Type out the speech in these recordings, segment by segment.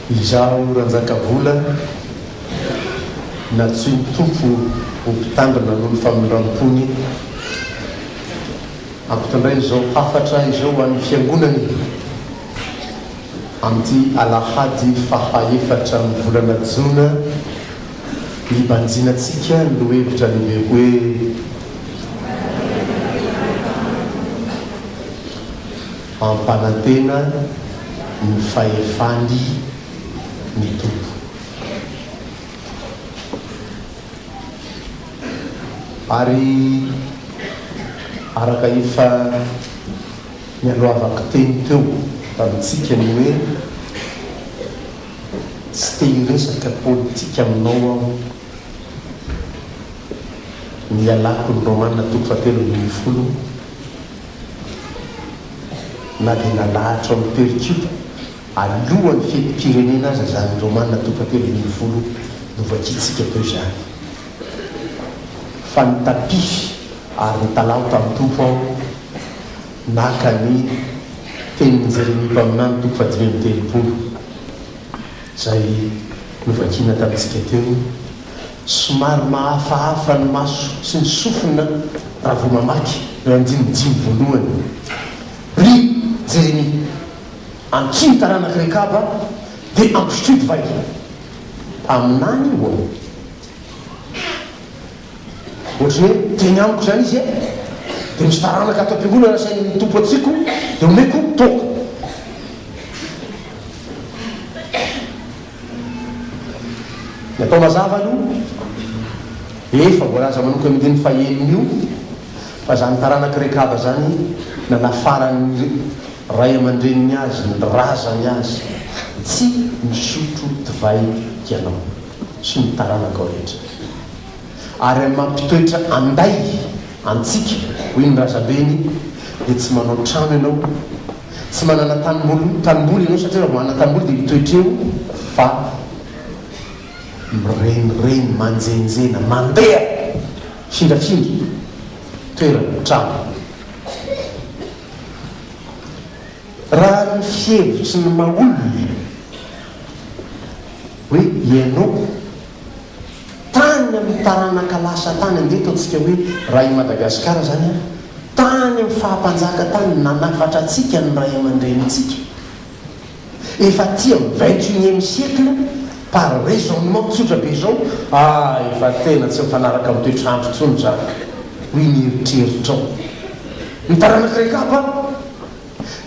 Izaho Ranjakavola na tsy ny Tompo ho mpitandrina noho ny famindram-pony hampitondray izao hafatra izao ho an'ny Fiangonany amin'ity alahady faha efatra amin'ny volana jona Mibanjina antsika ny lohevitra lehibe hoe Ampanantena ny fahefany ny Tompo. Ary araka efa nialohavako teny teo tamintsika ny hoe. Tsy te hiresaka politika aminao aho. Ny ialako ny Romana toko fahatelo ambin'ny folo na dia nalahatra ao amin'ny Percup alohan'ny fetim-pirenena aza izany Romana toko fahatelo ambin'ny folo novakiantsika teo izany. Fa nitapify ary nitalaho tamin'ny Tompo aho. Naka ny tenin'i Jeremia mpaminany toko fahadimy amby telopolo, izay novakina tamintsika teo. Somary mahafahafa ny maso sy ny sofina raha vao mamaky ny andininy dimy voalohany. Ry Jeremia, ankio ny taranak'i Rekaba, dia ampisotroy divay. Mpaminany ho'a. Ohatran'ny hoe teny amiko izany izy e! Dia misy taranaka ato am-piangonana asain'ny Tompo antsiko dia omeko toaka. Ny atao mazava aloha, efa voalaza manokana io andininy fahenina io fa izany taranak'i Rekaba izany nanafaran'ny ray aman-dreniny azy, ny razany azy, Tsy misotro divay ianao sy ny taranakao rehetra. ary amin'ny maha mpitoetra anday antsika, hoy ny razambeny, dia tsy manao trano ianao, tsy manana tanimboly tanimboly ianao satria raha vao hanana tanimboly dia mitoetra eo fa mirenireny, manjenjena, mandeha hindrafindra toerana, trano. Raha ny fihevitry ny maha olona hoe ianao, Tany amin'ny taranaka lasa tany andeha ataontsika hoe raha i Madagasikara izany ary, tany amin'ny faha-mpanjaka tany no nanafatra antsika ny ray aman-drenintsika. Efa aty amin'ny vingt et unième siècle par raisonnement tsotra be izao, ah efa tena tsy mifanaraka amin'ny toetr'andro intsony izany, hoy ny eritreritrao. Ny taranak'i Rekaba?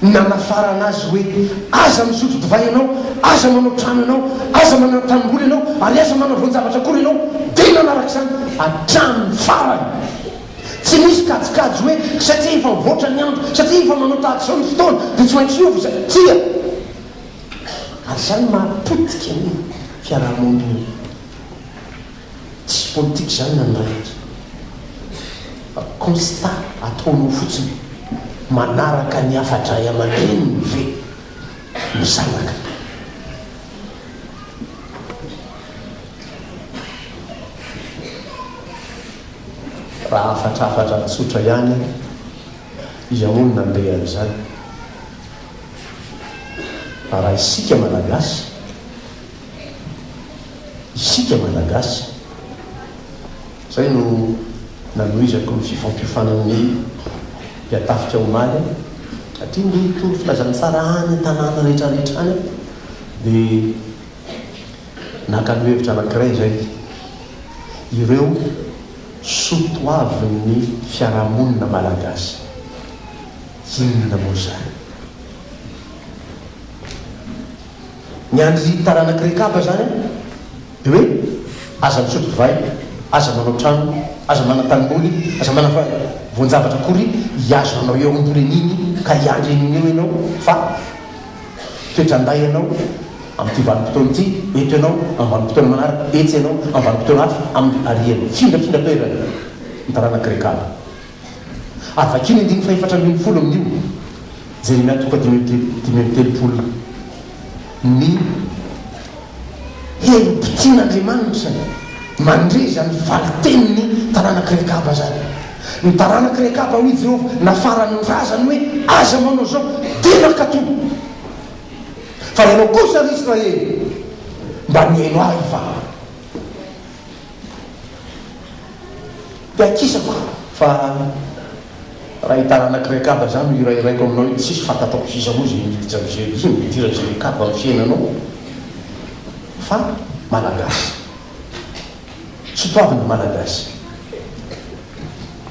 Nanafarana azy hoe, Aza misotro divay ianao, aza manao trano ianao, aza manana tanimboly ianao, ary aza manana voan-javatra akory ianao. Dia nanaraka izany hatramin'ny farany. Tsy nisy kajikajy hoe, Satria efa mivoatra ny andro, satria efa manao tahaka izao ny fotoana, dia tsy maintsy hiova izay. Tsia. Ary izany maha potika ny fiaraha-monina. Tsisy politika izany na ny iray aza fa constat ataonao fotsiny, manaraka ny hafa-dray aman-dreniny ve ny zanaka? Raha hafatra hafatra tsotra ihany aho, iza moa no nandeha an'izany fa raha isika Malagasy? isika Malagasy. Izay no nanohizako ny fifampiofanan'ny mpiatafika omaly satria ny tory filazantsara any an-tanàna rehetrarehetra any dia naka lohevitra anankiray izay, ireo soa toavin'ny fiarahamonina Malagasy. Inona moa izany? Ny an'ny taranak'i Rekaba izany an, dia hoe, aza misotro divay, aza manao trano, aza manan-tanimboly, aza manana voan-javatra akory hihazo anao eo am-poreniny ka hiandry an'iny eo ianao fa toetran-dahy ianao amin'ity vanim-potoana ity, eto ianao amin'ny vanim-potoana manaraka, etsy ianao amin'ny vanim-potoana hafa, amin'ny harian'ny findrafindratoerana ny taranak'i Rekaba. ary vakio ny andininy fahefatra ambin'ny folo amin'io, Jeremia toko dimy amby dimy amby telopolo, ny herim-potian'Andriamanitra mandre izany valin-tenin'ny taranak'i Rekaba izany. Ny taranak'i Rekaba, hoy Jehovah, nafarany ny razany hoe, Aza manao izao, dia nankatò. Fa ianao kosa, ry Israely, mba nihaino ahy va? Iakisa fa fa raha i taranak'i Rekaba zany no hirahiraiko aminao io dia tsisy fantatrako sisa moa izay mety tsy am'izay io no idiran'izay Rekaba amin'ny fiainanao fa Malagasy. Sotoavina Malagasy.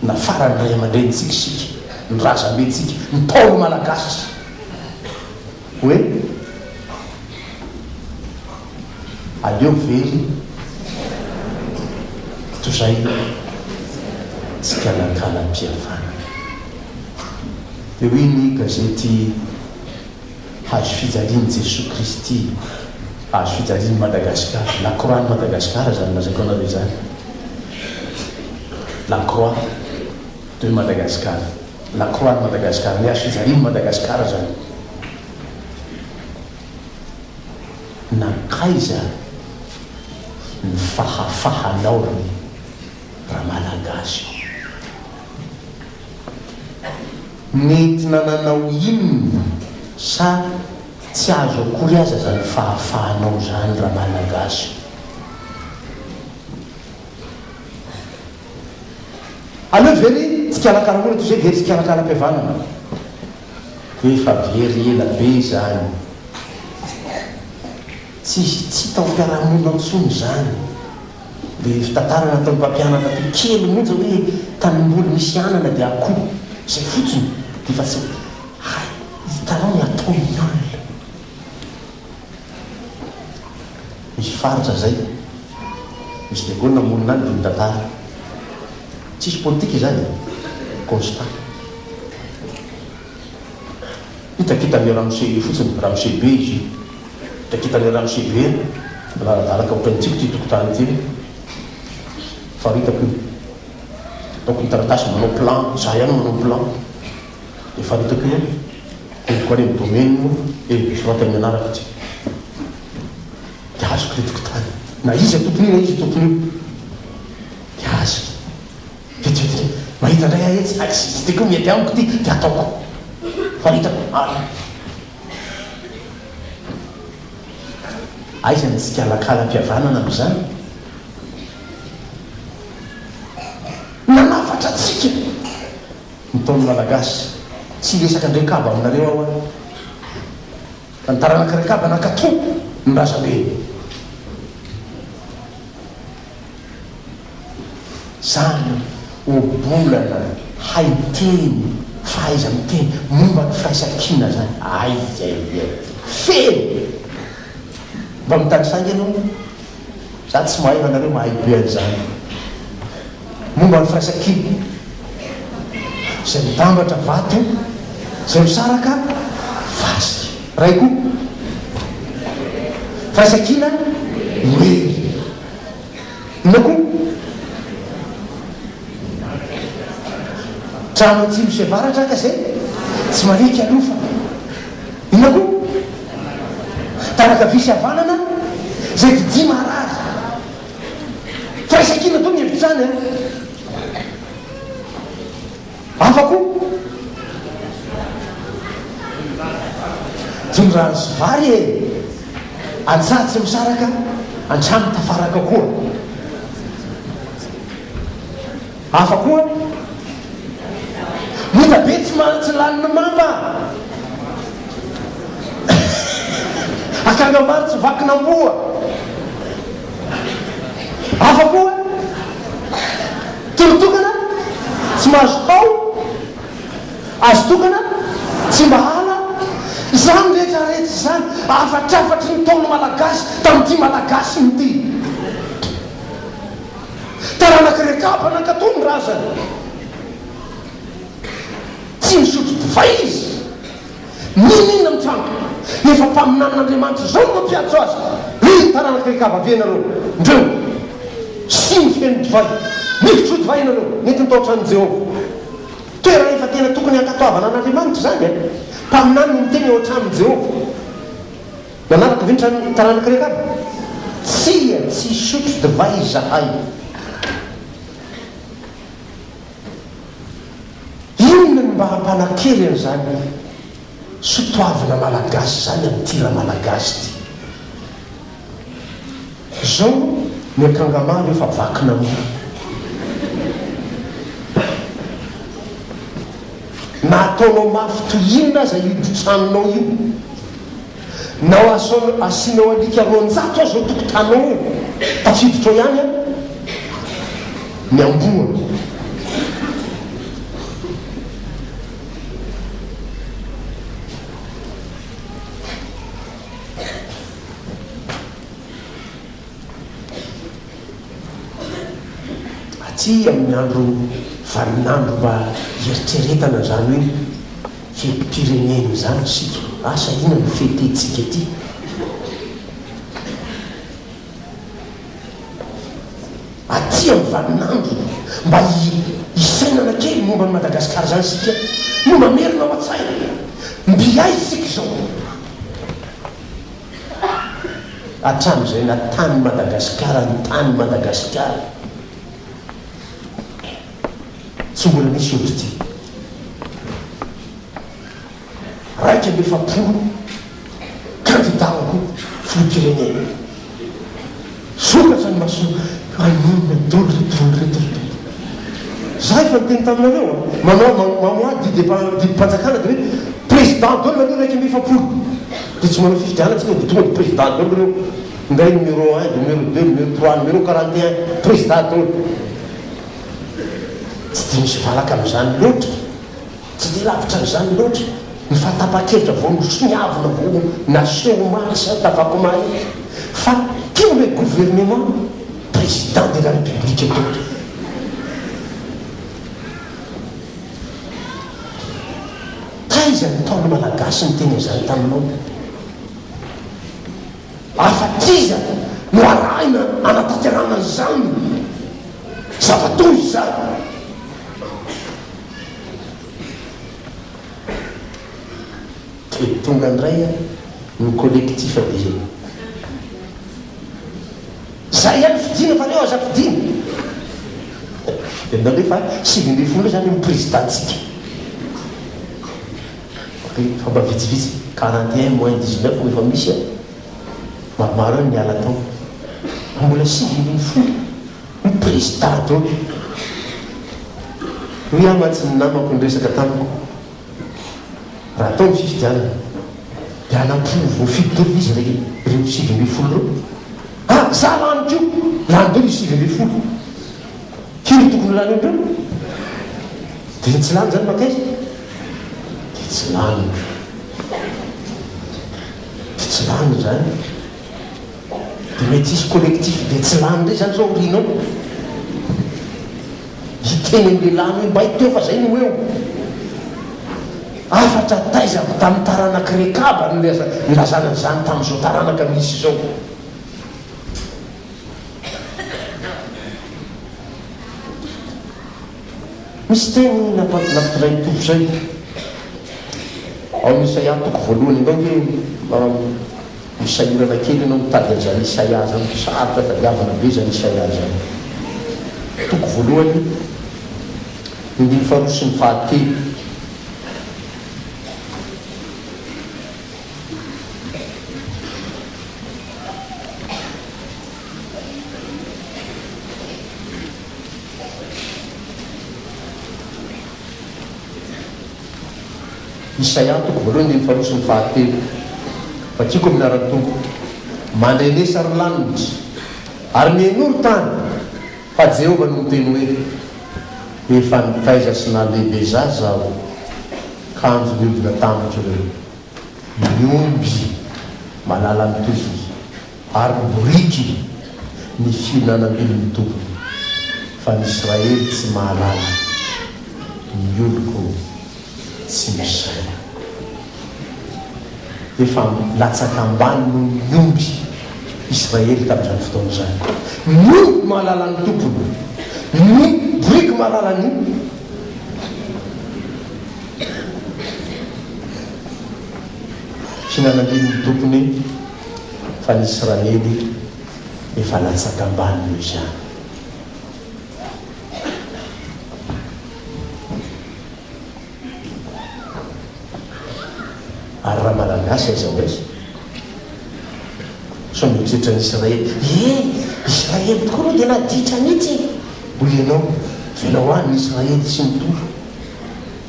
Nafaran'ny ray aman-drenintsika isika, ny razambentsika, ny Ntaolo Malagasy. Hoe aleo very toy izay ny tsikalakalam-pihavanana. Dia hoy ny gazety Hazo fijalian'i Jesoa Kristy, Hazo fijalian'i Madagasikara, La Croix-n'i Madagasikara izany lazaiko anareo izany, La Croix de Madagascar. La croix de Madagascar ny archives anio ny Madagascar zany nankaiza ny fahafahanao ry ramalagasy ô? Nety nananao inona sa tsy azo akory aza zany fahafahanao zany ramalagasy ô? Aleo ve ry mpikarakara olona toy izay dia tsy hikarakara-pihavanana? Efa very ela be izany. Tsy tsy hita ao amin'ny fiaraha-monina ao intsony izany. Ilay fitantara nataon'ny mpampianatra toy kely monja hoe tanimboly misy anana dia akoho. Izay fotsiny. Dia efa tsy hay. Hitanao ny ataon'ny olona. Misy faritra zay. Misy de Gaulle monina any de mitantara. Tsisy politika izany e. Constat. Hitakitan'i ramose io fotsiny, ramose be izy io. Hitakitan'i ramose be an. Manaradaraka ohatran'ny tsipy ity tokotany ity an. Faritako io. Ataoko ny taratasy manao plan, za ihany manao plan. Efa hitako io, henoko ary ny domaine moa e, misoraty amin'ny anarako ity dia azoko ilay tokontany na iza tompon'io na iza tompon'io dia azony, vetivety indray mahita indray aho etsy, hay tsy dia koa mety amiko ity dia ataoko fa hitako ary aiza ny tsikalakalam-pihavanana amin'izany? Nanafatra antsika. Ntaolo malagasy. Tsy hiresaka ndray kaba aminareo aho an. Fa ny taranaka ry kaba nankato ny razambeny. Zany ohabolana haiteny, fahaiza miteny, momba ny firaisankina zany. Aiaiaiai. Feno. Mba mitanisaingy anie. Za tsy mahay fa nareo mahay be anzany. momba ny firaisankina izay mitambatra vato izay misaraka fasika. Iray koa, firaisankina noely. Inona koa? Trano atsimo sy avaratra ka izay tsy mariky alofa. Inona koa? Tana-kavia sy havanana izay vidia marary. Firaisankina toa ny hevitrany an! Hafa koa. Jono rano sy vary e! Antsaha tsy misaraka, an-trano tafaraka koa. Hafa koa an! Mita be tsy mahantsy lanin'ny mamba an! Akanga maro tsy vakin'amboa an! Hafa koa an! Toro tokana tsy mahazo hao an! Azo tokana tsy mba hala an! Izany rehetra rehetra izany hafatrafatry ny ntaon'ny Malagasy tamin'ity Malagasiny ity. Taranak'i Rekaba nankatò ny razany. Tsy nisotro divay izy. Mininona mitranga? Efa mpaminanin'Andriamanitra izao no mampiantso azy. Ry taranak'i Rekaba, avia ianareo. Ndreo! Siny feno divay. Mifotro divay ianareo. Nentin'ny tao an-tranon'i Jehovah. Toerana efa tena tokony hankatoavana an'Andriamanitra izany. Mpaminany no miteny ao an-tranon'i Jehovah. Manamiko ve trano ny taranako rehefa avy? Tsia, tsy hisotro divay izahay. Inona no mba hampanan-kery an'izany sotoavina malagasy izany amin'ity ra-malagasy ity? Zao ny akanga maro efa vakina mo. Na ataonao mafy toy inona aza io totranonao io, na asianao alika roanjato aza ao tokotanao eo, tafiditra ao ihany an, ny amboa. Aty amin'ny andro vaninandro mba hieritreretana izany hoe fetim-pirenena izany isika. Asa inona no fetentsika ety? Aty amin'ny vaninandro mba hisainana kely momba an'i Madagasikara izany isika no mamerina ao an-tsaina. Mby aiza isika izao? hatramizay na tany Madagasikara ny tany Madagasikara tsy mbola nisy otrty raika amby efapolo kandida ho filoham-pirenena. Sokatra ny maso ay inona dolo ry dolo ry dolo ry. Za efa niteny taminareo a! Manao mamoaha didy didim-panjakana de hoe président dolo aloha iraika amby efapolo de tsy manao fifidianana tsika de tonga de président dolo reo minday numéro un, numéro deux, numéro trois, numéro quarante et un, président dolo. Tsy de misy valaka amzany loatra. Tsy dia lavitra an'izany loatra ny fahatapahan-kevitra vao nisoniavina, vao naseho omaly sy antavakomay iny fa tia ilay gouvernement président de la république daholo. Taiza ny Ntaolo Malagasy niteny an'izany taminao? Ary fa t'iza no arahina hanatanterahana izany zava-doza izany? Dia tonga indray ary ny collectif be reny. Zay ihany fidiana fa reo aza fidiana. Enao re fa sivy ambin'ny folo zany ny président-tsika. Fa mba vitsivitsy, quarante et un moins dix neuf no efa misy an! Maromaro eo ny niala tao. Mbola sivy ambin'ny folo. Triste tato e! Niha mantsy ny namako niresaka tamiko raha atao ny fifidianana dia hanampovo voafidy daholo izy re reo sivy ambin'ny folo reo a! Za lany ko lany daholo izy sivy ambin'ny folo firy no tokony ho lany amindreo? Dia tsy lany zany makaiza? Dia tsy lany, dia tsy lany zany. De mety hisy collectif be tsy lany ndray zany zao aoriana ao hiteny an'i lehilahy an'io mba hiteo fa zay no eo hafatra taiza avy tamin'ny taranak'i Rekaba no nilazana an'izany tamin'izao taranaka misy izao. Misy teny nampitondrain'ny Tompo izay ao amin'ny Isaia toko voalohany, angao ve Ho sahirana kely ianao mitady an'izany Isaia zany, sarotra tadiavina be zany Isaia zany. Toko voalohany, ny andininy faharoa sy ny fahatelo. Isaia, toko voalohany, andininy faharoa sy ny fahatelo, Vakiko amin'ny anaran'ny Tompo, mandray lesa ry lanitra, ary mihenoa ry tany, fa Jehovah no miteny hoe, Efa nitaiza sy nalehibezaza Aho kanjo niodina tamiko ireo, ny omby malalan'ny tofony. Ary ny boriky, ny fihinanam-biby mitombina, fa ny Israely tsy mahalala, ny oloko tsy misaina. Efa latsaka ambany noho ny omby Israely tamin'izany fotoana izany. Ny omby mahalala ny tompony, ny boriky mahalala ny olony. Fihinanam-biby ny tompony. fa ny Israely efa latsaka ambany noho izany. Ary raha Malagasy aiza ho aiza? Sao mieritreritra ny Israely, ee Israely tokoa aloha dia naditra mihitsy e! Hoy ianao, velao any ny Israely tsy mitovy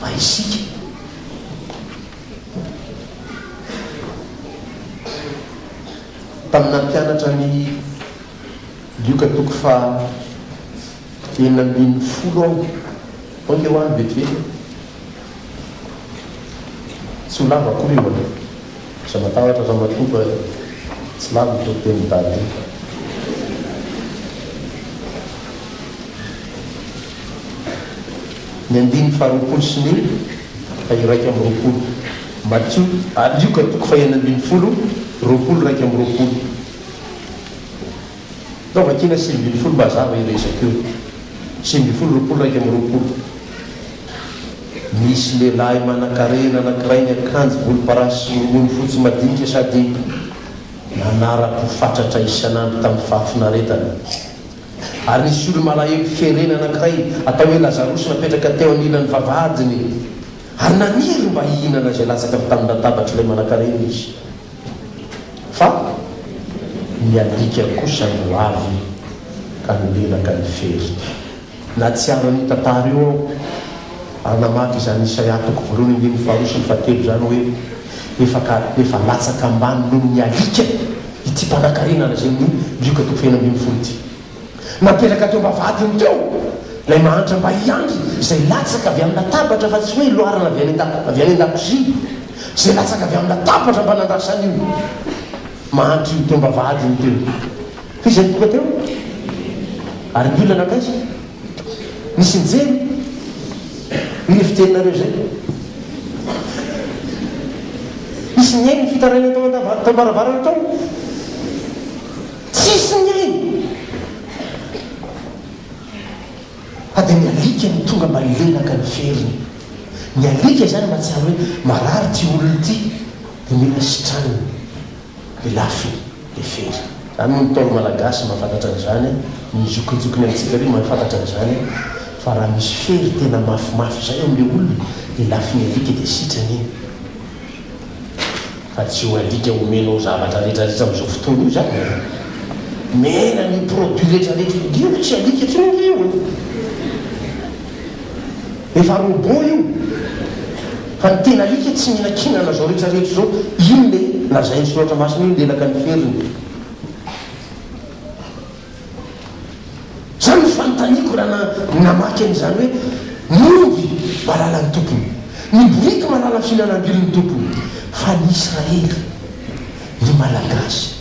fa isika. Taminà mpianatra an'i Lioka toko faha enina ambin'ny folo aho. Aoka eo àry vetivety e! Tsy ho lava akory io an! Aza matahotra ramatoa fa tsy lava io toriteny Dada io. Ny andininy faharoapolo sy ny iraika amby roapolo, Matio, ary Lioka, toko fahenina ambin'ny folo, roapolo, iraika amby roapolo. Atao vakiana sivy ambin'ny folo mba hazava io resaka io. Sivy ambin'ny folo, roapolo, iraika amby roapolo, Misy lehilahy manankarena anankiray niakanjo volomparasy sy rongony fotsy madinika sady nanara-po fatratra isan'andro tamin'ny fahafinaretana. Ary nisy olo-malahelo ferena anankiray atao hoe Lazarosy napetraka teo anilan'ny vavahadiny, ary naniry mba hihinana izay latsaka avy tamin'ny latabatr'ilay manankarena izy. Fa ny alika kosa no avy ka nilelaka ny fery. Nahatsiaro an'io tantara io aho, ary namaky izany Isaia toko voalohany andininy faharoa sy ny fahatelo izany hoe, Efa ka efa latsaka ambany noho ny alika. ity mpanankarena an'izay ny Lioka toko fahenina ambin'ny folo ity. Napetraka teo am-bavahadiny teo ilay mahantra mba hiandry izay latsaka avy amin'ny latabatra fa tsy hoe iloarana avy any avy any an-dakozia, izay latsaka avy amin'ny latabatra mba nandrasan'io mahantra io teo am-bavahadiny teo. Fa iza no tonga teo? Ary ny olona nankaiza? Misy mijery ireo fijerinareo izay? Misy mihaino ny fitarainana tao an-dabaravarana tao? Tsisy mihaino! Fa dia ny alika no tonga mba hilelaka ny feriny. Ny alika izany mahatsiaro hoe marary ity olona ity, dia mila sitranina. Pilafy dia fery. Zany hoy ny ntaolo malagasy mahafantatra an'izany ny zokinjokiny amintsika ary mahafantatra an'izany fa raha misy fery tena mafimafy zay eo amle olona dia lafiny alika dia sitrana iny fa tsy io alika homenao zavatra retraretra amzao fotoana io zany e! Mena an'io produit retraretra io, io tsy alika tsony ange io e! Efa robot io fa ny tena alika tsy mihinankinana zao rehetra rehetra zao iny le lazainy soratra masina iny lelaka ny feriny zany no fanotaniako raha namaky an'izany hoe ny omby malala ny tompony ny boriky malala fihinanam-bily ny tompony fa ny israely ny malagasy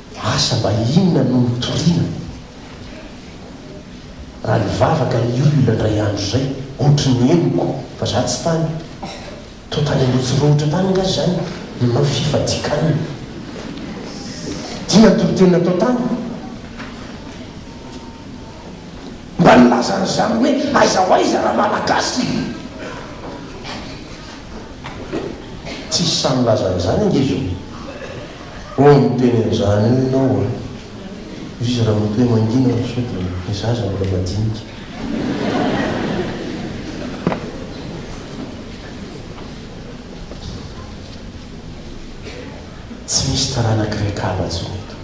Asa mba inona no nitoriana raha nivavaka ny olona indray andro izay? Ohatry ny henoko fa za tsy tany. Toa tany Anosirohotra tany angaha izany no fifadikanana. Dia toriteny natao tany? Mba nilaza an'izany hoe aiza ho aiza raha Malagasy? Tsisy sahy milaza an'izany ange izao. Hoy miteny an'izany eo ianao a! Izy ramatoa mangina no sao dia ny zaza mbola madinika. Tsy misy taranak'i Rekaba intsony eto.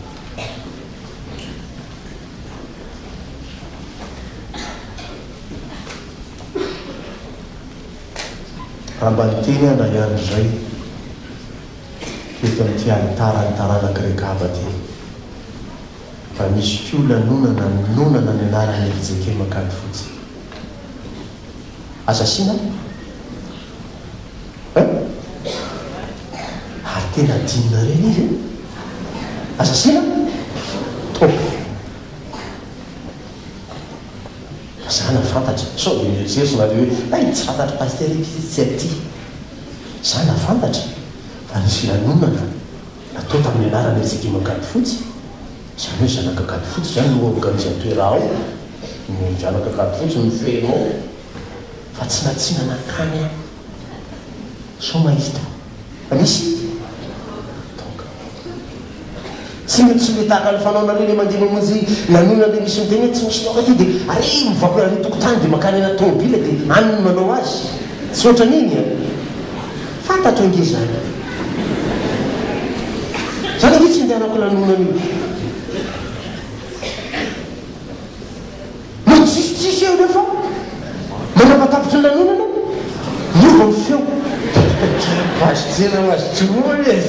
Raha mba niterahana ihany izay teto amin'ity alitaran'ny taranak'i Rekaba ity, mba misy koa lanonana nonana ny anaran'i Erijeke Makady Fotsy. Aza asiana an! Ary tena adinona re ilay izy e! Aza asiana an! Top! Mazàna fantatra, sao dia mieritreritra nareo hoe hay tsy fantatr'i Pasitera ity sy tsy aty. Mazàna fantatra fa nisy filanonana natao tamin'ny anaran'ny Ekipa Ankadifotsy, izany hoe Zanak'Ankadifotsy izany no organisateur ao, ny Zanak'Ankadifotsy no feno ao, fa tsy natsina nankany aho. Sao mahita. Misy toaka. Tsy misy ny tahaka ny fanaonareo le mandeha mamonjy lanonana de misy miteny hoe tsy misy toaka aty de ary mivaokona ary tokotany de mankany anaty tomobile de any no manao azy. Tsy ohatran'iny an! Fantatro ange zany. Zany ange tsy indehanako lanonana io. No tsisitsisy eo ireo fa mandrava tapitry ny lanonana niova ny feo. Azo tena ho azo torohana e!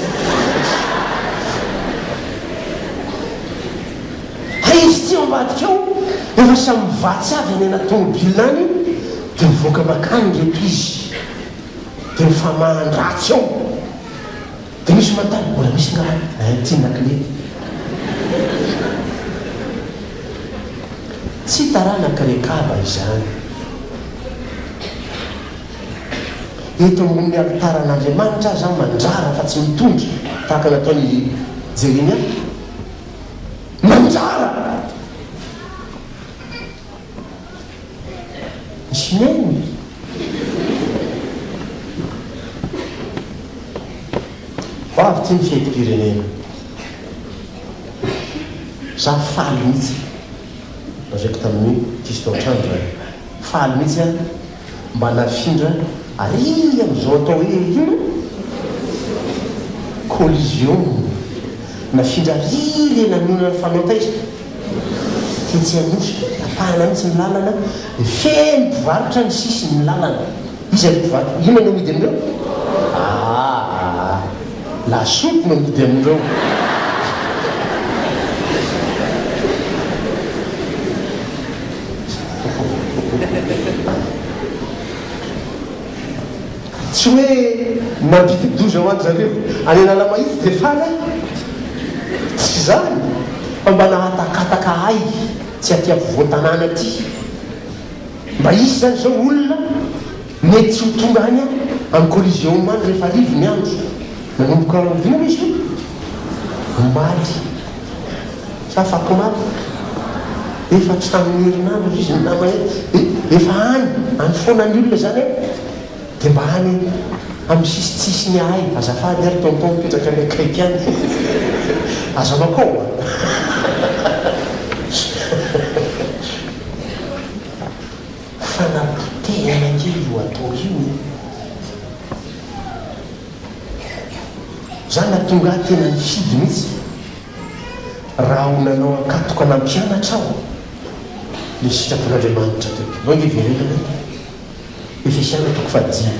Hay izy ity ao ambadika ao efa samy mivatsy avy any anaty tomobilina any dia mivoaka makany ireto izy dia mifamahan-dratsy eo. Diso ma tany mbola misy ny rano? Nahay nitsinona klety. Tsy taranak'i Rekaba izany. Eto ambonin'ny alitaran'Andriamanitra aza aho mandrara fa tsy mitondra tahaka nataon'i Jeremia. Mandrara! Jmon. Vavy tsy mifidy pirenena. Za faly mihitsy. Lazaiko tamin'i Fiston hatrany izany. Faly mihitsy aho. Mba nafindra ary amin'izao atao hoe inona? Collision. Nafindra ary ilay nanonona ny fanao taizany tetsy Anosy. Tapahana mihitsy ny lalana dia feno mpivarotra ny sisin'ny lalana. Iza ry mpivarotra? Inona no amidy amin'ireo? Aa! Lasopy no amidy amin'ireo. Tsy hoe mandididoza ho an-dry zareo any Analamahitsy dia faly aho. Tsy izany fa mba nahatakataka ahy tsy aty afovoan-tanàna aty. Mba hisy izany izao olona. Mety tsy ho tonga any amin'ny Coliseum any rehefa hariva ny andro. Nanomboka aoriana izy io, omaly sy afakomaly. Efa tsy tamin'ny herinandro izy ny namany hoe, eh, efa any, any foana ny olona izany eh. Dia mba any amin'ny sisintsisiny ahay azafady ary tonton mipetraka any akaiky any. Aza mankao a! Fanapotehana kely io atao io e! Za na tonga ahy tena nifidy mihitsy raha ho nanao ankatoka nampianatra aho le sitrapon'Andriamanitra teo. Zao nge verenana e! Efesiana toko fahadimy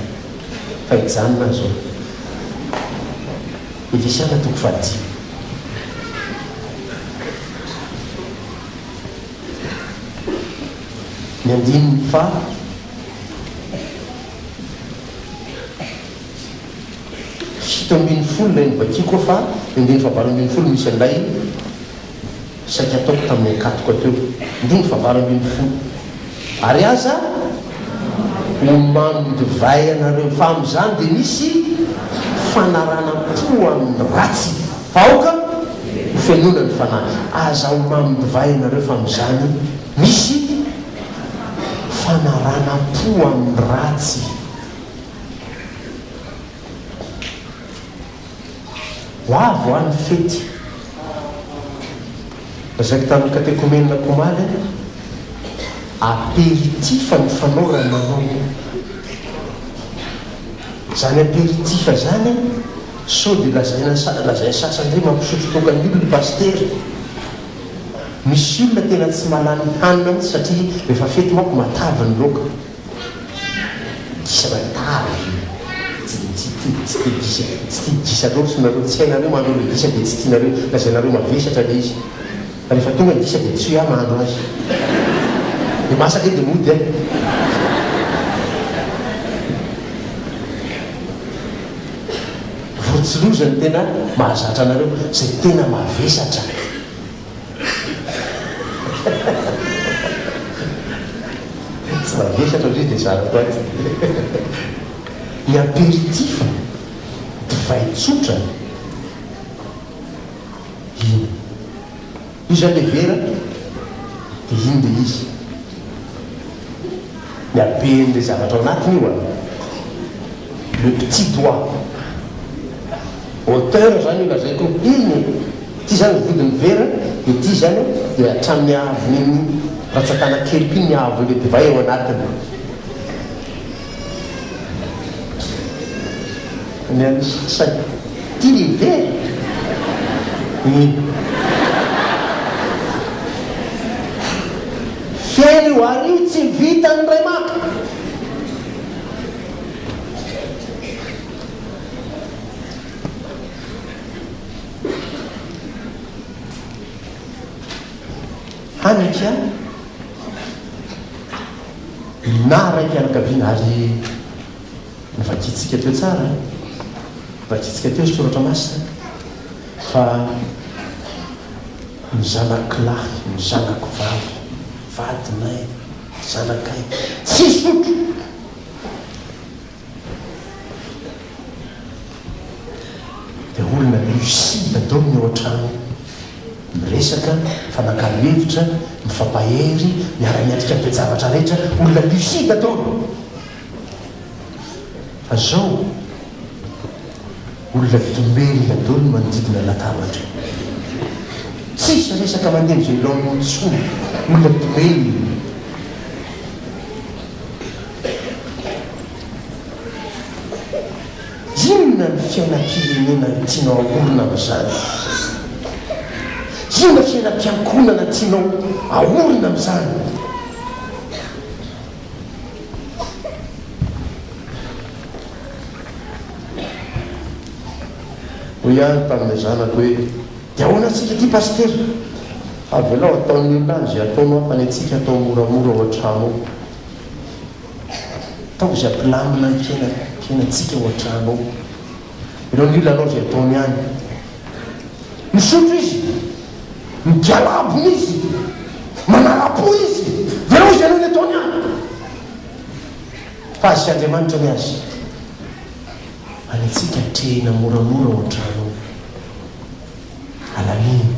fa hijanona aho zao. Efesiana toko fahadimy. Ny andininy faha fito ambin'ny folo ilay novakiko fa ny andininy fahavalo ambin'ny folo misy an'ilay saika ataoko tamin'ny ankatoka teo. Andininy fahavalo ambin'ny folo. Ary aza ho mamin divay ianareo, fa amin'izany dia misy fanarana-po amin'ny ratsy. Vahoaka hofenoina ny fanahy. Aza ho mamin divay ianareo fa amin izany misy fanarana po amin ny ratsy. Ho avy hoa ny fety. Lazaiko tamin ny katekomenako omaly hoe aperitif ny fanao raha manao izany aperitif izany. Sao dia lazaina lazain'ny sasany hoe mampisotro toaka daholo ny pasitera? Misy olona tena tsy mahalala ny hanina mihitsy satria rehefa fety manko matavy ny loaka. Gisa matavy tsy tia tsy tia gisa tsy tia gisa loatra nareo tsy hainareo mahandro ilay gisa dia tsy tianareo lazainareo mavesatra ilay izy fa rehefa tonga ny gisa dia tsy hoe aho mahandro azy dia masaka eo dia mody an! Vorontsiloza no tena mahazatra anareo izay tena mavesatra. Tsy mavesatra ndry dia zarako aty. Ny aperitif, divay tsotra, iny. Iza le vera de ino le izy? Ny habeny le zavatra ao anatiny io an! Le petit doigt! Hauteur zany io lazaiko iny e! Ty zany ny vodin'ny vera de ty zany de hatramin'ny haavon'iny ratsan-tanan-keliko iny ny haavon'le divay ao anatiny. Ny an'ny sasany, ity ny be e! Feno io ary tsy vitan'ny ray maka. Hany aky an! Nina ray mpianakaviana ary novakiantsika teo tsara an! Vakiantsika teo ny soratra masina fa ny zanako lahy, ny zanako vavy, vadinay, zanakay, tsy hisotro! Dia olona lucide atao ny ao an-trano miresaka, mifanakalo hevitra, mifampahery, miara-miatrika ny toe-javatra rehetra, olona lucide atao ny. Fa zao, olona domelina daholo ny manodidina ny latabatra. Tsisy resaka mandeha amin'izay laoniny intsony, olona domelina. Inona ny fiainam-pirenena no tianao haorina amin'izany? Inona ny fiainam-piankohonana tianao haorina amin'izany? Hoy aho ny tamin'ilay zanako hoe, Dia ahoana antsika ity Pasitera? Avelao hataon'ny olona any izay ataonao fa ny antsika atao moramora ao an-trano ao. Ataovy ampilamina ny kena kenantsika ao an-trano ao. Ireo ny olona anao izay ataony ihany. Misotro izy, migalabona izy, manara-po izy, dia hoy izy anao ny ataony ihany. Fa azy Andriamanitra ny azy. Any antsika atrehina moramora ao an-trano ao. Alamino.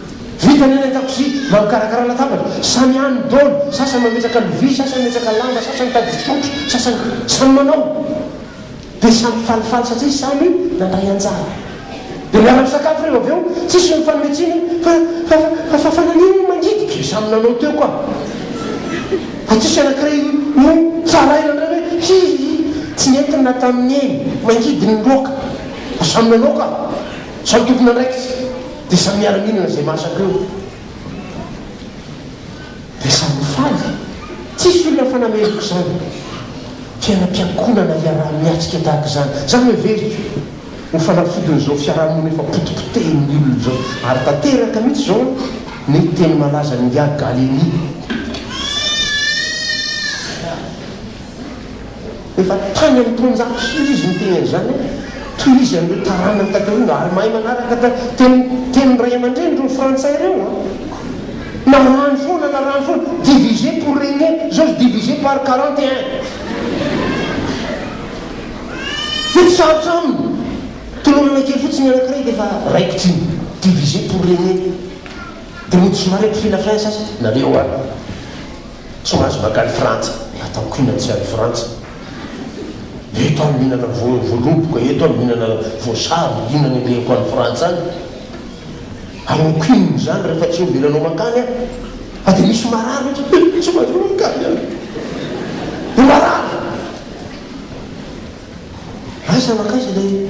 Vita ny any an-dakozia na mikarakara latabatra, samy any ny dôly, sasany mametraka lovia, sasany mimetraka lamba, sasany mitady fisotro, sasany, samy manao. Dia samy falifaly satria samy nandray anjara. Dia miara-misakafo ireo avy eo, tsisy mifanome tsiny hoe, fa, fa, fa, fa naninona no mangidy? Dia samy nanao teo koa. Fa tsisy anankiray no tsaraina indray hoe, hi, hi, tsy nentiny na tamin'ny neny, mangidy ny loaka. Fa samy nanao ka. Samy tompon'andraikitra. Dia samy miara-mihinana izay masaka eo. Dia samy mifaly. Tsisy olona fanameriko izany. Fiainam-piankonana iaraha-miatrika tahaka izany. Izany no heveriko. Ho fanafodin'izao fiaraha-monina efa potipotehin'ny olona izao. Ary tanteraka mihitsy izao ny teny malazan'ingahy Gallieni. Efa tany amin'ny taonjato sy iry izy niteny an'izany hoe, Toy izy an'ireo taranany taterina ary mahay manaraka ta teny tenin'ny ray aman-dreniny ireo Frantsay ireo an! Narahany foana, narahany foana, diviser pour régner, izao izy diviser par quarante et un. Dia tsy sarotra aminy, tolorana kely fotsiny ny anankiray dia efa raikitra iny, diviser pour régner. Dia mody somary hampifilafila sasany, nareo an! tsy mahazo makany frantsa atao kina tsy any frantsa eto aho mihinana voaloboka eto aho mihinana voasary inona ny alehako any frantsa any hanao kina izany rehefa tsy omby nanao makany aho fa dia misy marary ohatry tsy mahazo makany any dia marary aiza makaiza ilay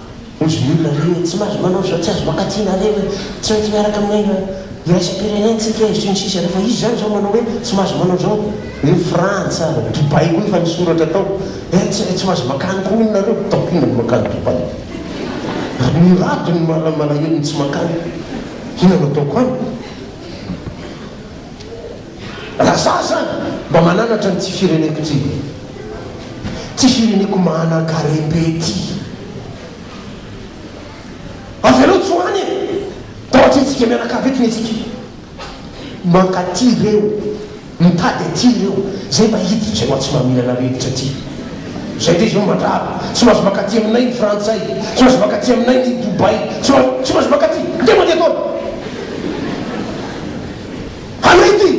Hoy izy, Inona indray no tsy mahazo manao izao, tsy azo mankaty na harena, tsy maintsy miaraka amin'ny aina iraisam-pirenentsika e, sy ny sisa Rehefa izy izany izao manao hoe tsy mahazo manao izao, hoe Frantsa, Dubaï koa efa nisoratra tao, eh, tsy tsy mahazo makany koa hono nareo, ataoko inona ny makany Dubaï? Ary mirado ny mala malahelo ny tsy makany, inona no ataoko any? Raha za zany mba mananatra ny tsy fireneko ty Ty fireneko manan-kare be ty Avelao tsy ho any e Tao an-trenintsika mianakavy eto isika Mankaty reo Mitady aty reo Zay mba hiditra eo atsy maminana rivotra ty Zay ndray zao mandrava Tsy mahazo mankaty aminay ny frantsay Tsy mahazo mankaty aminay ny Dubai Tsy mahazo Tsy mahazo mankaty Ndray mandeha ataona Arety!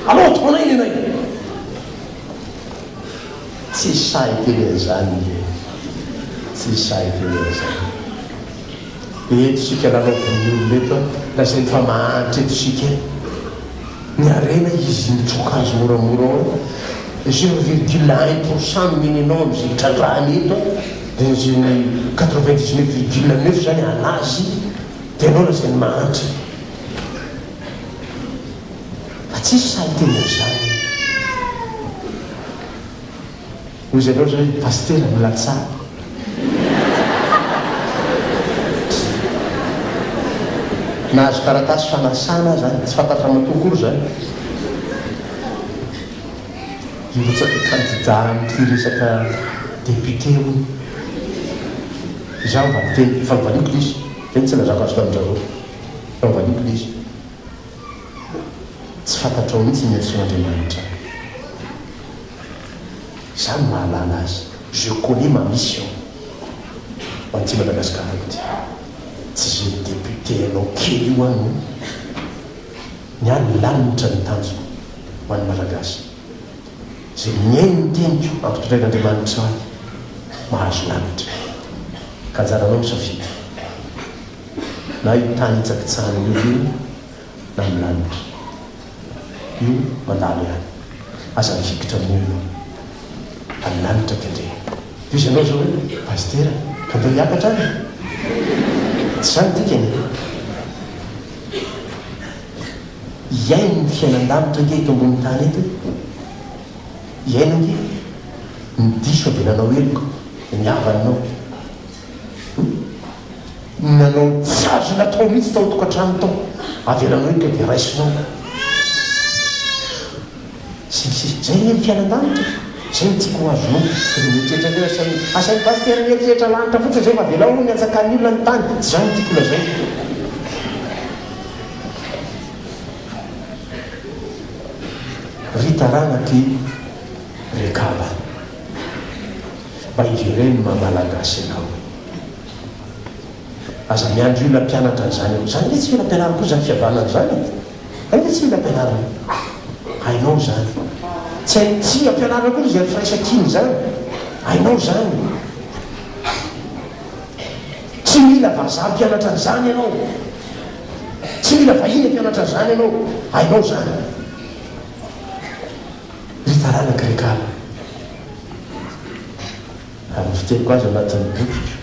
Alao ataonay nenay! Tsy sahy hiteny an'izany i Hery. Tsy sahy hiteny an'izany. Dia eto isika lalaovin'ny olona eto an! Lazainy fa mahantra eto isika e! Ny harena izy mitsoka azy moramora ao an! Zero virgule un pour cent no nenenao amin'izay hitrandrahany eto an! Dia izay ny quatre vingt dix neuf virgule neuf izany hanazy dia ianao lazainy mahantra. Fa tsisy sahy teny amin'izany e! Hoy izay loatra hoe Pasitera mila tsara. Nahazo taratasy fanasana aza any, tsy fantatra matoa akory izany. Hirotsaka kandida amin'ity resaka député hono. Izaho mba miteny, efa novaliako lesy, dia ny tsy nazako azo tamin-dry zareo. Fitaovan'io Kristy. Tsy fantatrao mihitsy ny hadisoan'Andriamanitra. Izaho no mahalala azy. Je connais ma mission. Ho an'ity Madagasikarako ity. Tsy izay député hainao kely io aho no. Ny ahy ny lanitra ny tanjoko ho an'ny Malagasy. Izay mihaino ny teniko ampitondrain'Andriamanitra ahy mahazo lanitra. Ka anjaranao misafidy. na io tany hitsakitsahana eo io na ny lanitra. Io mandalo ihany. Aza mifikitra amin'io io. Fa ny lanitra kendrena. Dia hoy izy ianao izao hoe, Pasitera, ka ndeha hiakatra any e! Tsy izany ny dikany e! Hiaino ny fiainan-danitra ange eto ambonin'ny tany eto e! Hiaino ange! Ny diso dia nanao heloka, dia ny havanao. Nanao tsy azony atao mihitsy tao an-tokantrano tao, avelanao eto dia raisinao ka. Sy ny sisa. Izay anie ny fiainan-danitra e! Izay no tiako ho azonao, dia ny mieritreritra indray asain'ny, asain'ny pasitera mieritreritra lanitra fotsiny izay fa avelao aloha ny antsakany olona ny tany, tsy izany no tiako lazaina. Ry taranak'i Rekaba. Mba ijereo ny maha Malagasy anao e! Aza miandry olona mpianatra an'izany eo. Izany ve tsy mila ampianarina koa izany fihavanana izany e? Izany ve tsy mila ampianarina? Hainao izany. Tsy hay, tsy ampianarina akory izany firaisan-kina izany. Hainao izany. Tsy mila vazaha mpianatra an'izany ianao. Tsy mila vahiny hampianatra an'izany ianao. Hainao izany. Ry taranaka ry kala, raha ny fiteniko azy anatin'ny bokiko,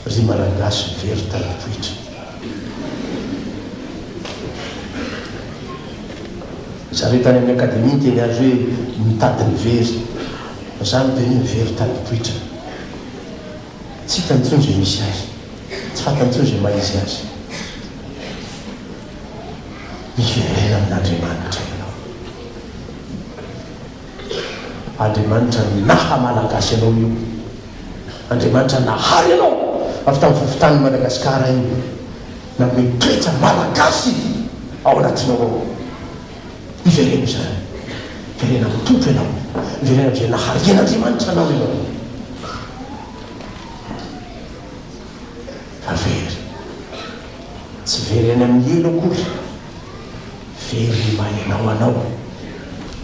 ry Malagasy very tamim-poitra, zareo tany amin'ny Akademia niteny azy hoe mitady ny very, fa za miteny hoe very tamim-poitra, tsy hitany intsony izay misy azy, tsy fantany intsony izay maha izy azy. Miverena amin'Andriamanitra ianao. Andriamanitra naha Malagasy anao io. Andriamanitra nahary anao avy tamin'ny fofontanin'i Madagasikara io. Nanome toetra Malagasy ao anatinao ao. Miverena izany. Miverena amin'ny Tompo ianao. Miverena amin'izay naharian'Andriamanitra anao ianao. Fa very. Tsy very any amin'ny helo akory, very mahelao anao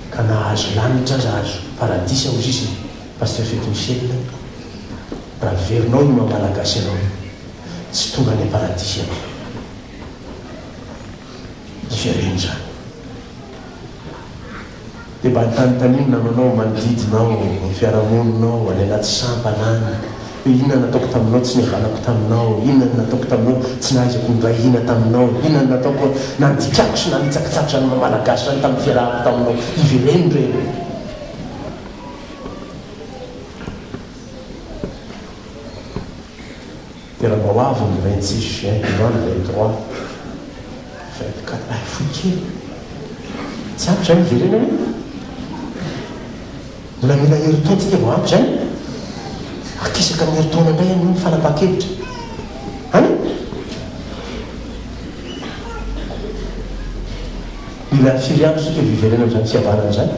ka na hahazo lanitra aza azo paradisa hoy sisa i Pasteur Fety Michel raha verinao io maha Malagasy anao io, tsy tonga any am-paradisa ianao. Ivereno izany. Dia mba antanintaniho ny namanao manodidina ao, ny fiarahamoninao, any anaty sampana any, hoe inona no nataoko taminao tsy nihavanako taminao, inona no nataoko taminao tsy nahaizako nindray hina taminao, inona no nataoko nandikako sy nanitsakitsakitra ny maha Malagasy ahy tamin'ny fiarahako taminao. Ivereno ireny. Tena mba ho avy ny vingt six juin de l'an vingt trois vingt quatre ay fohy kely tsy ampy zay miverena anie mbola mila herintaona tsika vao ampy zay akisaka ny herintaona ndray anie ny fanapahan-kevitra an mila firy andro tsika vao hiverenan'izany fihavanana izany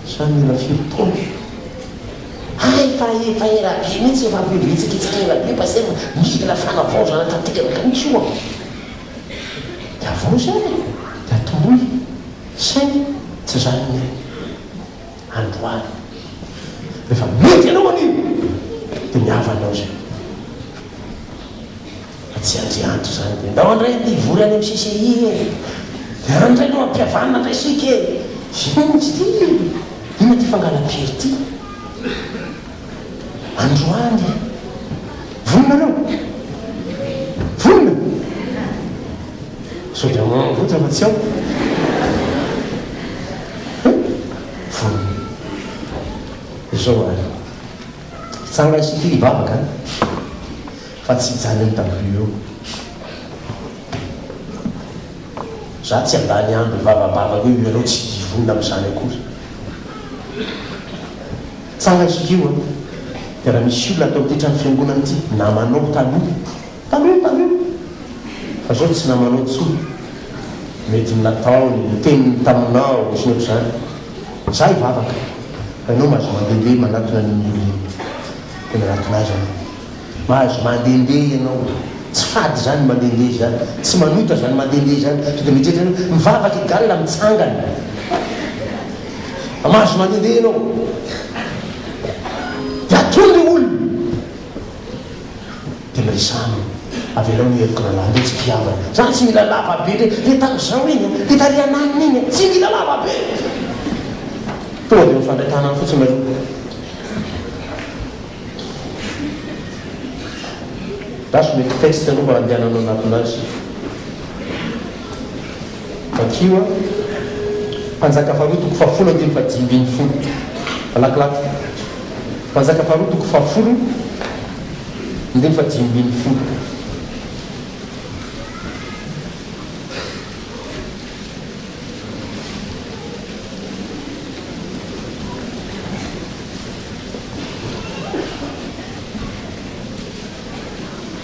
Sa mila firy taona? Hay fa efa ela be mihitsy efa avy eo vitsivitsika ela be pasteur mila fanavaozana tanteraka mihitsy io an! De avaozy ary e! de atoroy saingy tsy zany ny ahy androany rehefa mety anao anio de ny havanao zay. Fa tsy azy andry izany dia ndao ndray ity hivory any amin'ny CCI e! Dia any indray no hampihavanina indray isika e! Inona izy ity? Inona ity fangalam-pery ity? Androany! Vonona ianao? Vonona? Sao dia manambotra fa tsy ao? Vonona. Izao ary. Hitsanga isika hivavaka an! Fa tsy hijaly eo daholo eo. Za tsy handany andro hivavabavaka hoe ianao tsy hidiry vonona amin'izany akory. Tsara isika io an! Dia raha misy olona tao ity trano fiangonana ity namanao taloha, taloha taloha, fa izao tsy namanao intsony, mety ny nataony, ny teniny taminao, sy ny ohatr'izany. Za hivavaka fa ianao mahazo mandehandeha manatona an'iny olona iny. Dia nanatona azy aho. Mahazo mandehandeha ianao. Tsy fady izany mandehandeha izany. Tsy manota izany mandehandeha izany. To dia mieritreritra hoe mivavaka i Gal mitsangana. Mahazo mandehandeha ianao. Dia atony ilay olona. Dia miresaha aminy. Avelao ny heriko rahalahy. Ndao tsy mpihavana. Izany tsy mila lava be indray. Dia tamin'izao iny an. Dia tarehy ananiny iny an. Tsy mila lava be. Tonga dia mifandray tanana fotsiny nareo. Dash mety test aloha mba andehananao anatona azy. Vakio a. Mpanjaka faharoa toko fahafolo andininy fahadimy ambin'ny folo. Malakilaky. Mpanjaka faharoa toko fahafolo andininy fahadimy ambin'ny folo.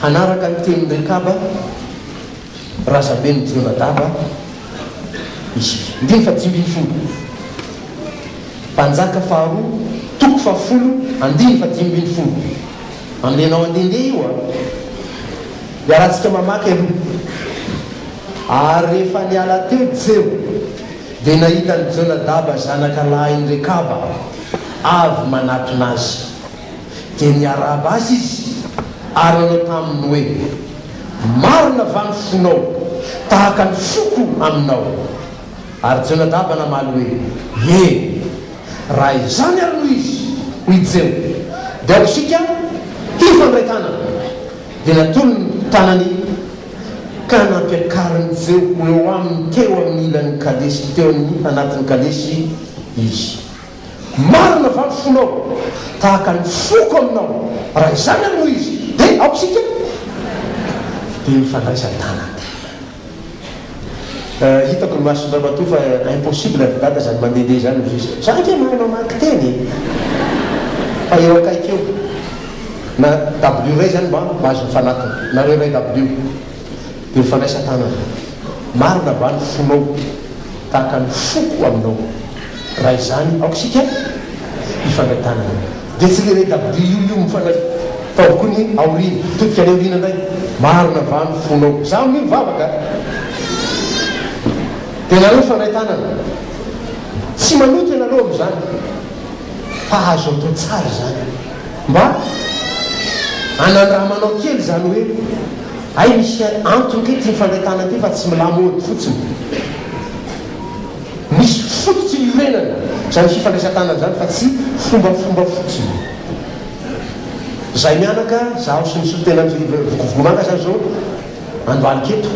Hanaraka ny tenin'i Rekaba, razaben'i Jonadaba, izy. Andininy fahadimy ambin'ny folo. Mpanjaka faharoa, toko fahafolo, andininy fahadimy ambin'ny folo. Ambenao handehandeha io an! Iarahantsika mamaky aloha. Ary rehefa niala teo Jeho, dia nahita an'i Jonadaba zanaka lahin'i Rekaba avy manatona azy. Dia niarahaba azy izy ary nanao taminy hoe, Marina va ny fonao tahaka ny foko aminao? Ary Jonadaba namaly hoe, Ie. Raha izany ary no izy, hoy Jeho, dia aoka isika hifandray tanana. Dia natolony ny tanany ka nampiakariny tsy ho eo aminy teo amin'ny ilan'ny kalesy, teo amin'ny anatin'ny kalesy, izy. Marina va ny fonao? Tahaka ny foko aminao. Raha izany ary no izy, dia aoka isika. Dia nifandraisan-tanana. Hitako ny masony ramatoa fa impossible ry dada zany mandehandeha zany ho zizika. Za ange mahay mamaky teny e! Fa eo akaiky eo. Na dabilio iray zany mba mba azo mifanatona. Nareo iray dabilio. Dia mifandraisa tanana. Marina va ny fonao? Tahaka ny foko aminao. Raha izany aoka isika hifandray tanana. Dia tsy le regabe io io mifanay fa avokoa ny aoriana. Todika any aoriana indray. Marina va ny fonao? Za amin'io mivavaka a! Dia nareo mifandray tanana. Tsy manota ianareo amin'izany fa azo atao tsara izany. Mba anandramanao kely izany hoe hay misy antony kay ity mifandray tanana ity fa tsy mi-lamaody fotsiny. Misy fototry ny iorenana izany fifandraisan-tanana izany fa tsy fombafomba fotsiny. Izahay mianaka, izaho sy ny solontenan'ny Vokovogomanga izany izao andohalika eto,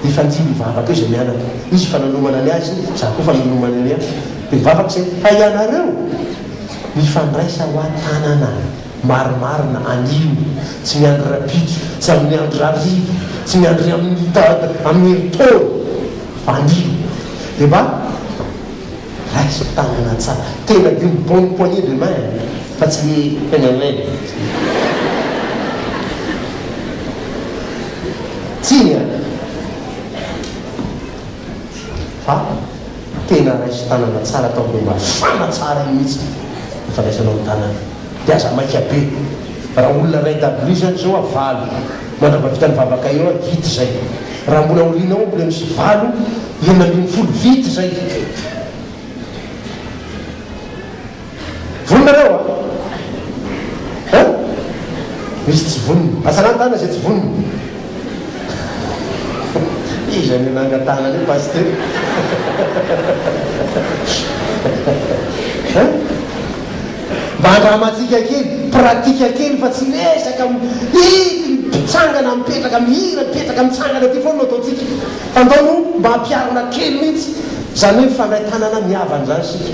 dia efa nijinja hivavaka eo izahay mianaka. Izy efa nanomana ny azy, izaho koa efa nanomana ny ahy. Dia nivavaka izahay fa ianareo mifandraisa hoa tanana. Marimarina anio, tsy miandry rahampitso, tsy amin'ny andro rahariva, tsy miandry amin'ny taona, amin'ny herintaona, fa anio dia mba raiso tanana tsara, tena be ny bonne poignée de main fa tsy hoe heineinei. Tsiny an! Fa. Tena raiso tanana tsara tao be mafana tsara iny mihitsy ny fandraisanao ny tanana dia aza maika be raha olona iray dabilio izany izao a valo mandrava vita ny vavaka eo a vita izay raha mbola aoriana ao mbola misy valo enina ambin'ny folo vita izay. Vonona nareo a? Hein? Misy tsy vonona. Atsara ny tanana izay tsy vonona. Iza no nangatahana an'io Pasitera? Hein? Mba andramantsika kely, pratique kely fa tsy resaka mihidy, mitsangana, mipetraka, mihira, mipetraka, mitsangana ity foana no ataontsika. Fa ndao aloha mba ampiharina kely mihitsy izany hoe mifandray tanana mihavana izany isika.